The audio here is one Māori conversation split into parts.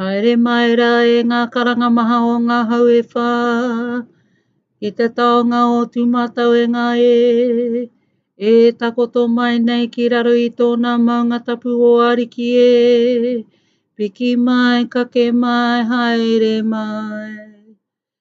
Haere mai rā e ngā karanga maha o ngā hau e whā, ki te taonga o tūmatau e ngā e, e takoto mai nei ki raro i tōna maunga tapu o Ariki e, piki mai, kake mai, haere mai.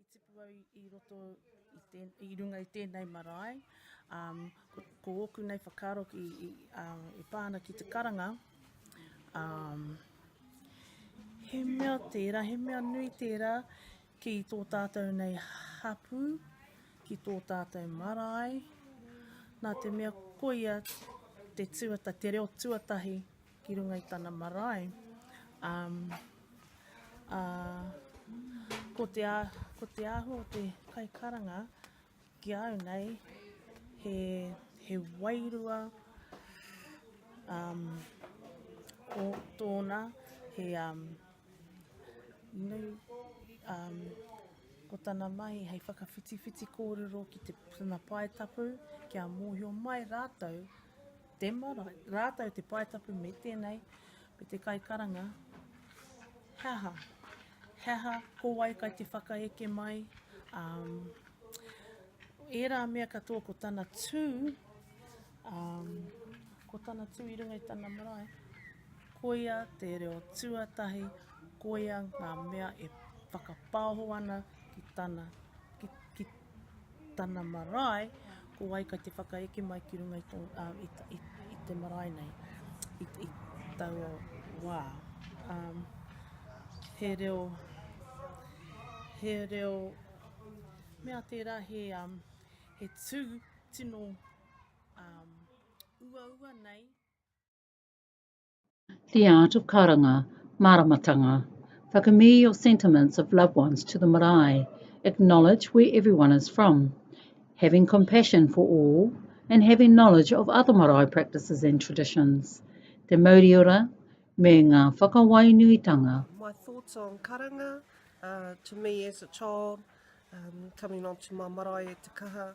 I tipu au i roto, i runga i tēnei marae, ko ōku nei whakaaro e pā ana ki te karanga, he mea tērā, he mea nui tērā ki tō tātou nei hapū, ki tō tātou marae, nā te mea koia te tuatahi, te reo tuatahi ki runga i tana marae, um, a, ko, te a, ko te āhua o te kaikaranga ki au nei, he, he wairua um, o tōna, he, um, nu, um, ko tana mahi hei whakawhitiwhiti kōrero ki te, tana pae tapu, kia mōhio mai rātou, Te marae, rātou te pae tapu me tēnei, me te kai karanga, he aha, he aha, ko wai kai te whakaeke mai, um, ērā mea katoa ko tana tū, um, ko tana tū i runga i tana marae, koia te reo tuatahi, koia ngā mea e whakapāho ana ki tana, ki, ki, tana marae, ko wai kai te whakaeke mai ki runga i, to, uh, i, i, i te marae nei, i, i taua wā. Um, he reo, he reo, mea tērā he, um, he tū tino um, uaua nei, The art of karanga, māramatanga. Whakamī your sentiments of loved ones to the marae. Acknowledge where everyone is from. Having compassion for all and having knowledge of other marae practices and traditions. Te mauri ora me ngā whakawainuitanga. My thoughts on karanga, uh, to me as a child, um, coming onto my marae e te kaha,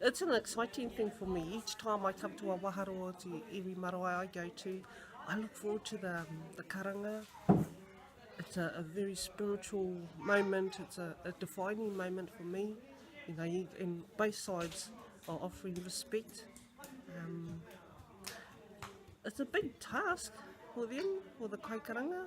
It's an exciting thing for me each time I come to a waharo o te iwi marae I go to I look forward to the the karanga it's a, a very spiritual moment it's a, a defining moment for me you know you, and both sides are offering respect um, it's a big task for them for the kaikaranga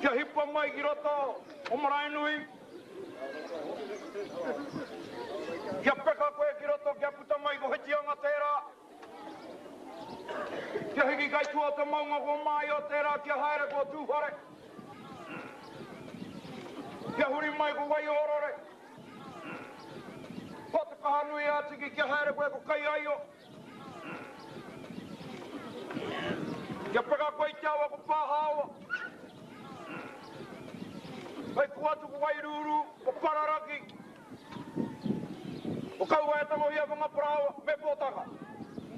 Kia hipa mai ki roto o Maraenui. Kia peka koe ki roto kia puta mai ko Whitianga tērā. Kia hiki kai tua o te maunga ko Māio tērā kia haere ko Tūwhare. Kia huri mai ko Waiōrore. Ko Te Kahanui ā Tiki kia haere koe ko Kaiaio. Kia peka koe i te awa ko Pahaoa Hei pua atu ko Wairūrū Ko Pararaki Ko Kauaetangohia Whangaparaoa me Potaka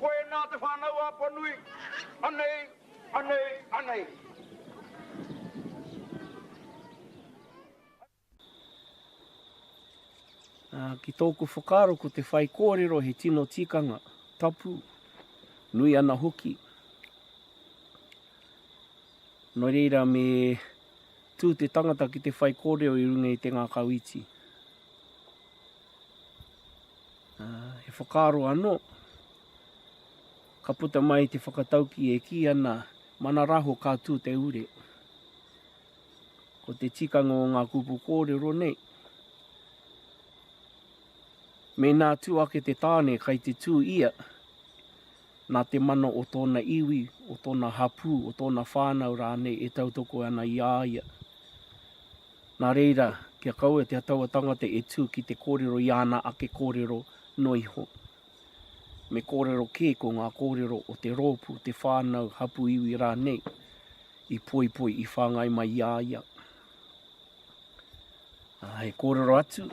Koinā te whānau a Apanui Anei, anei, anei. Ki tōku whakaaro ko te whaikōrero he tino tikanga, tapu, nui ana hoki. Nō reira me tū te tangata ki te whaikōrero i runga i te ngākau iti. He whakaaro anō, ka puta mai te whakatauki e kī ana, mana raho ka tū te ure. Ko te tikanga o ngā kupu kōrero nei, mēnā tū ake te tāne kai te tū ia, nā te mana o tōna iwi, o tōna hapū, o tōna whānau rānei e tautoko ana i a ia. Nā reira, kia kaua te tauatangata e tū ki te kōrero i āna ake kōrero noa iho, me kōrero kē ko ngā kōrero o te rōpū, te whānau, hapū iwi rānei i poipoi, i whāngai mai i a ia. Ā, he kōrero atu,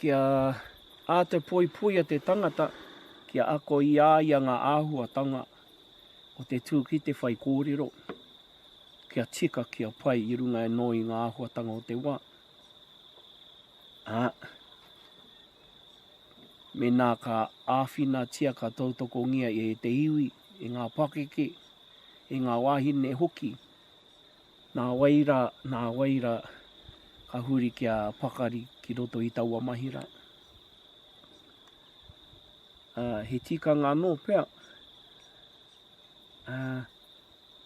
kia ā te poipoi a te tangata, kia ako i a ia ngā āhuatanga o te tū ki te whai kōrero, kia tika, kia pai i runga anō i ngā āhuatanga o te wā. ā, mēnā ka āwhinatia, ka tautokongia e te iwi, e ngā pakeke, e ngā wāhine hoki, nā wai rā, nā wai rā, ka huri kia pakari ki roto i taua mahi rā. Ā, he tikanga anō pea,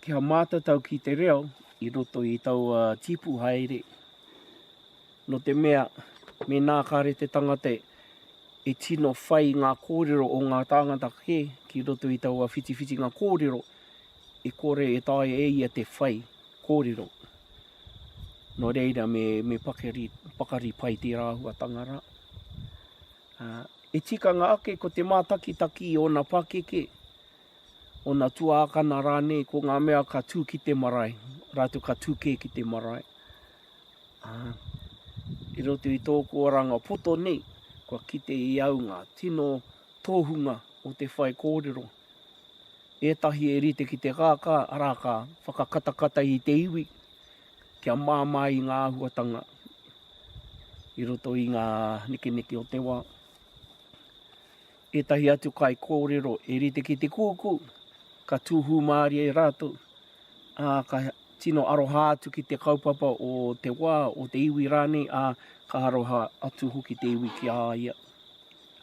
Kia mātatau ki te reo i roto i taua tīpu haere, nō te mea, mēnā kāre te tangata e tino whai ngā kōrero o ngā tāngata kē ki roto i taua whitiwhitinga kōrero, e kore e taea e ia te whai kōrero. Nō reira, me pakari pai tērā āhuatanga rā. I tikanga ake ko te mātakitaki i ōna pakeke, ōna tuākana rānei, ko ngā mea ka tū ki te marae, rātou ka tū kē ki te marae. I roto i tōku oranga poto nei, kua kite i au ngā tino tōhunga o te whaikōrero. Ētahi e rite ki te kākā, arā, ka whakakatakata i te iwi, kia māmā i ngā āhuatanga i roto i ngā nekeneke o te wā. Ētahi atu kai kōrero e rite ki te kūkū, ka tūhū mārie e rātou, ā, ka tino aroha atu ki te kaupapa o te wā, o te iwi rānei, ā, ka aroha atu hoki te iwi ki a ia.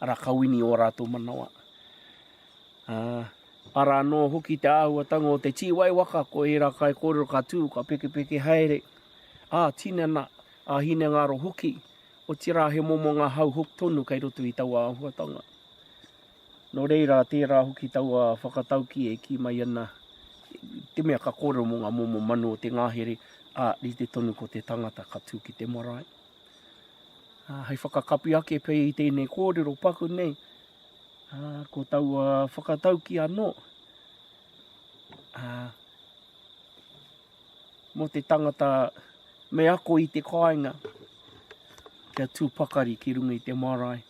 Ara, ka wini ō rātou manawa. Ara anō hoki te āhuatanga o te tīwai waka, ko ērā kaikōrero ka tū, ka pekepeke haere, ā tinana, ā hinengaro hoki, otirā he momo ngā hau hoki tonu kei roto i taua āhuatanga. Nō reira, tērā hoki taua whakatauki e kī mai ana, te mea ka kōrero mō ngā momo manu o te ngahere, ā, rite tonu ko te tangata ka tū ki te marae. Hei whakakapi ake pea i tēnei kōrero paku nei, Ā, ko taua whakatauki anō, ā, mō te tangata me ako i te kāinga, kia tū pakari ki runga i te marae.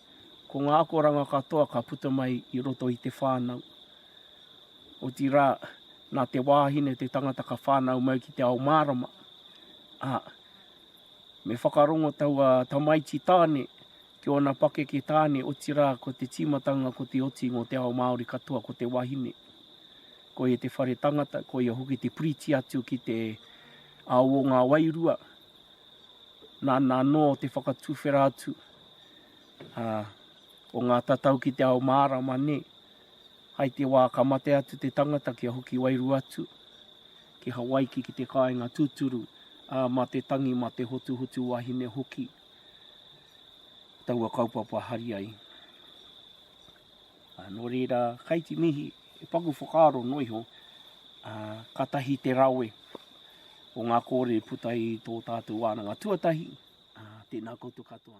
Ko ngā akoranga katoa ka puta mai i roto i te whānau. Otirā, nā te wāhine te tangata ka whānau mai ki te ao mārama. Ā, me whakarongo taua tamaiti tāne ki ōna pakeke tāne, otirā ko te tīmatanga ko te oti mō te ao Māori katoa ko te wahine. Ko ia te whare tangata, ko ia hoki te piriti atu ki te ao o ngā wairua, nāna anō te whakatuwhera atu o ngā tatau ki te ao mārama nei, hai te wā ka mate atu te tangata kia hoki wairua atu ki Hawaiki ki te kāinga tūturu, mā te tangi, mā te hotuhotu wahine hoki. taua kaupapa hari ai. A, nō reira, kai te mihi, e paku whakaaro noa iho, a, ka tahi te rawe o ngā kōrere i puta i tō tātou wānanga tuatahi, a, tēnā koutou katoa.